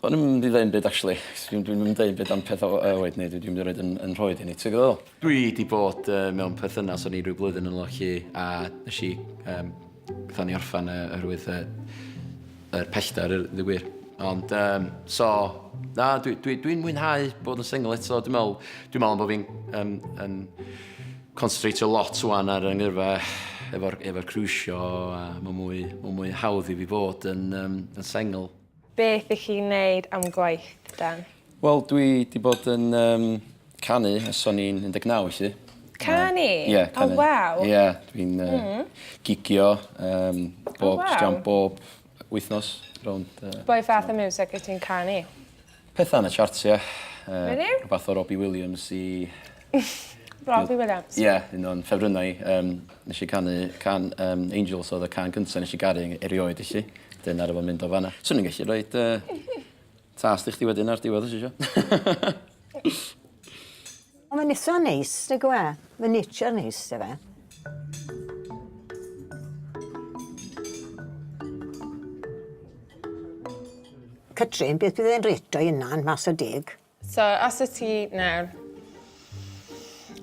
O'n i'm mynd i ddeu 'im byd actually. Dwi dwi'm yn deud byd am peth o yy oed neu dwi dwi'm 'di roid 'yn 'yn nhroed i ni ti gwbo be' dwi feddwl? Dwi 'di bod yy mewn perthynas o'n i ryw blwyddyn yn ôl â ci a nesh i yym gatho ni orffan yy oherwydd yy yr pellter yy ddeu gwir ond yym so na dwi dwi dwi'n mwynhau bod yn single eto dwi me'wl dwi me'wl am bo' fi'n yym yn constratio lot ŵan ar 'yn ngyrfa efo'r efo'r cruisio a ma' mwy ma' mwy hawdd i fi fod yn yym yn sengl. Beth ych chi'n neud am gwaith, Dan? Wel, dwi di bod yn um, canu ys o'n i'n 19, felly. Canu? Ie, yeah, canu. Oh, waw. Ie, yeah, dwi'n uh, mm. gigio um, bob, oh, wow. bob wythnos. Rownd, uh, Boi fath o music wyt ti'n canu? Petha yn y charts ie. Yy... Menyw? ...rwbath o Robbie Williams i... Robbie Williams? Ie un o'n ffefrynna i yym nesh i canu can yym Angels odd y can cynta nesh i garu e- erioed felly 'dyn aru fo mynd o fan 'na. Swn i'n gellu roid yy tast i chdi wedyn ar diwedd os isio. O mae'n itha neis nag yw e? Mae'n nature neis yw e? Catrin, beth bydd e'n reto i yna yn mas o deg? So, os y ti nawr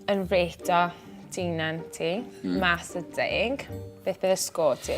yn reto dyn ti, mm. mas o deg, beth bydd y sgôr ti?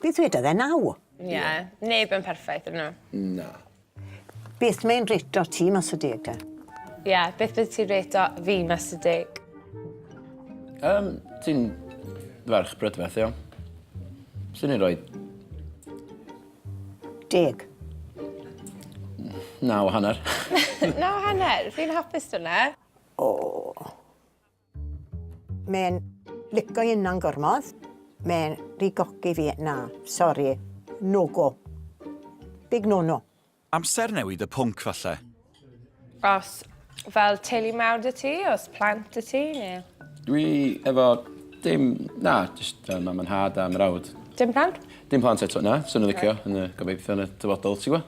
Be ddwedodd e naw? Ie, neb yn perffaith ydyn nhw. Na. Beth mae'n reto ti mas o deg te? Ie, beth bydd ti'n reto fi mas o deg? Um, ti'n ferch brydferth, iawn. Swn i'n rhoi... Deg. Naw hanner. Naw hanner? Fi'n hapus dyna. O. Mae'n lico i yna'n gormod. Mae'n rigogi fi, na, sori, no go. Big no no. Amser newid y pwnc falle. Os fel teulu mawr da ti, os plant da ti neu? Dwi efo dim, na, jyst yy mam a nhad a mrawd. Dim plant? Dim plant eto, na. Fyswn yn licio yn y gobeithio yn y dyfodol, ti gwbo?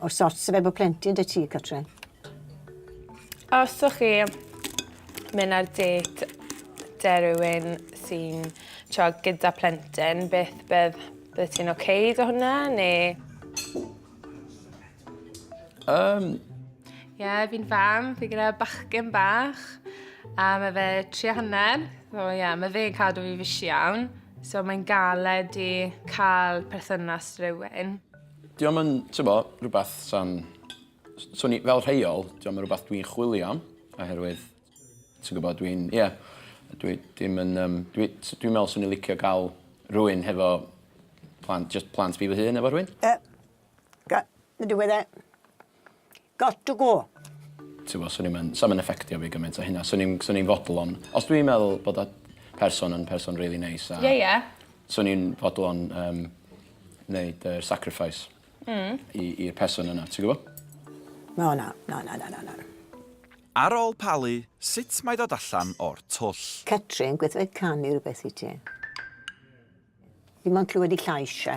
O'r sort sy'n fe bod plentyn dy ti, Catrin? Os o'ch chi mynd ar date de rhywun sy'n tio gyda plentyn, beth bydd, bydd ti'n oce okay do hwnna, neu... Um, Ie, yeah, fi'n fam, fi gyda bachgen bach, a mae fe tri a hanner, so ie, yeah, mae fe'n cadw fi fysi iawn. So mae'n galed i cael perthynas rhywun. Dio ddim yn, t'bo', rwbath sa'n... S- swn i... Fel rheol, dio ddim yn rwbath dwi'n chwilio am oherwydd ti'n gwbod dwi'n, ie, dwi dim yn yym dwi s- dwi'n me'wl swn i licio ga'l rhywun hefo plant jyst plant fi fy hun efo rhywun. Yy ga- mynd i weud e Got to go! Tibod, swn i'm yn... 'sa fo'm yn effectio fi gymaint â hynna. Swn i'n... swn i'n fodlon... Os dwi'n meddwl bod y person yn person rili neis a... Ie, ie. ...swn i'n fodlon yym neud yr sacrifice... Mm. ...i i'r person yna, ti'n gwbo? Na, na. Na, na, na, na, na. Ar ôl palu, sut mae dod allan o'r twll? Catrin, gweithio canu rhywbeth i ti. Fi mo'n clywed i llais e.